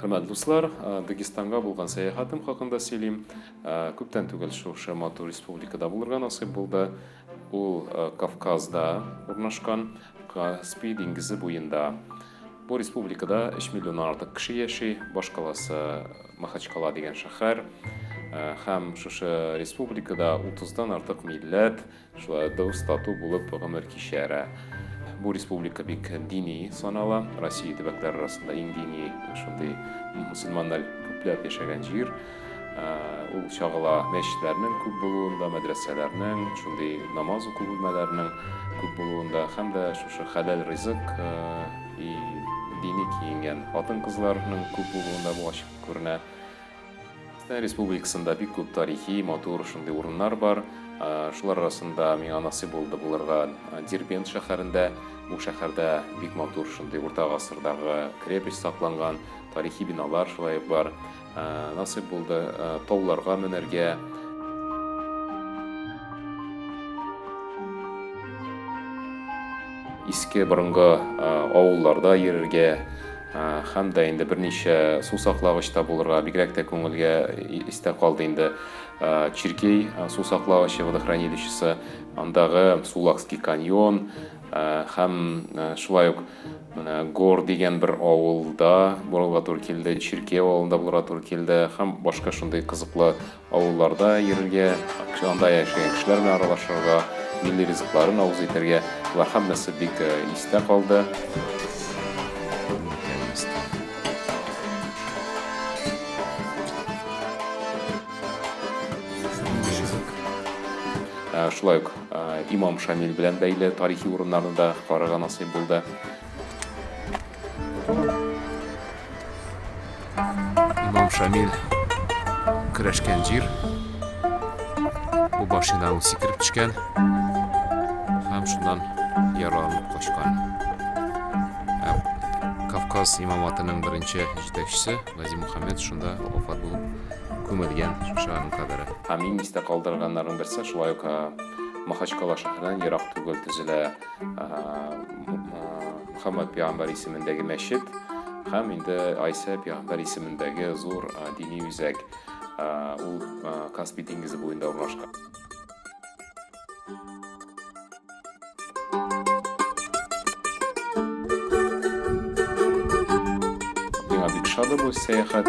Хөрмәт дуслар, Дагестанга булган сәяхәтем хакында сөйлим. Күптән түгел шушы матур республикада булырга насыйп булды. Ул Кавказда урнашкан Каспий диңгезе буенда. Бу республикада 3 миллионнан артык кеше яши, баш каласы Махачкала дигән шәһәр. Һәм шушы республикада 30-дан артык милләт, Шулай дус, тату булып гомер кичәрә. Бу республика бик дини санала. Россия төбәкләре арасында иң дини шундый мусульманнар күпләп яшәгән җир. Ул чагыла мәчетләрнең күп булуында, мәдрәсәләрнең, шундый намаз уку бүлмәләренең күп булуында һәм дә шушы хәләл ризык и дини киенгән хатын-кызларның күп булуында бу ачык күренә. Татарстан Республикасында бик күп тарихи, матур шундый урыннар бар. Шулар арасында миңа насыйп булды булырга Дербент шәһәрендә. Бу шәһәрдә бик матур шундый урта гасырдагы крепость сакланган, тарихи биналар шулай ук бар. Насыйп булды тауларга менәргә. Иске борынгы авылларда йөрергә. Һәм дә инде берничә су саклагыч та булырга, бигрәк тә күңелгә истә калды инде Чиркей су саклагычы, водохранилищесы, андагы Сулакский каньон һәм шулай ук менә Гор дигән бер авылда булырга туры килде, Чиркей авылында булырга туры килде һәм башка шундый кызыклы Авылларда йөрергә, анда яшәгән кешеләр белән аралашырга, милли ризыкларын авыз итәргә, болар һәммәсе бик истә калды. Шулай ук Имам Шамил белән бәйле тарихи урыннарны да карарга насыйп булды. Имам Шамил көрәшкән җир. Бу машинаның сикереп төшкән һәм шуннан яраланып качкан. Ә Кавказ имаматының беренче җитәкчесе Гази Мухаммед шунда вафат булып күмелгән шушы аның кабере. Һәм иң истә калдырганнарның берсе шулай ук Махачкала шәһәреннән ерак түгел төзелә. Мөхәммәд пәйгамбәр исемендәге мәчет һәм инде Айсә пәйгамбәр исемендәге зур дини үзәк. Ул Каспий диңгезе буенда урнашкан. Миңа бик шады бу сәяхәт.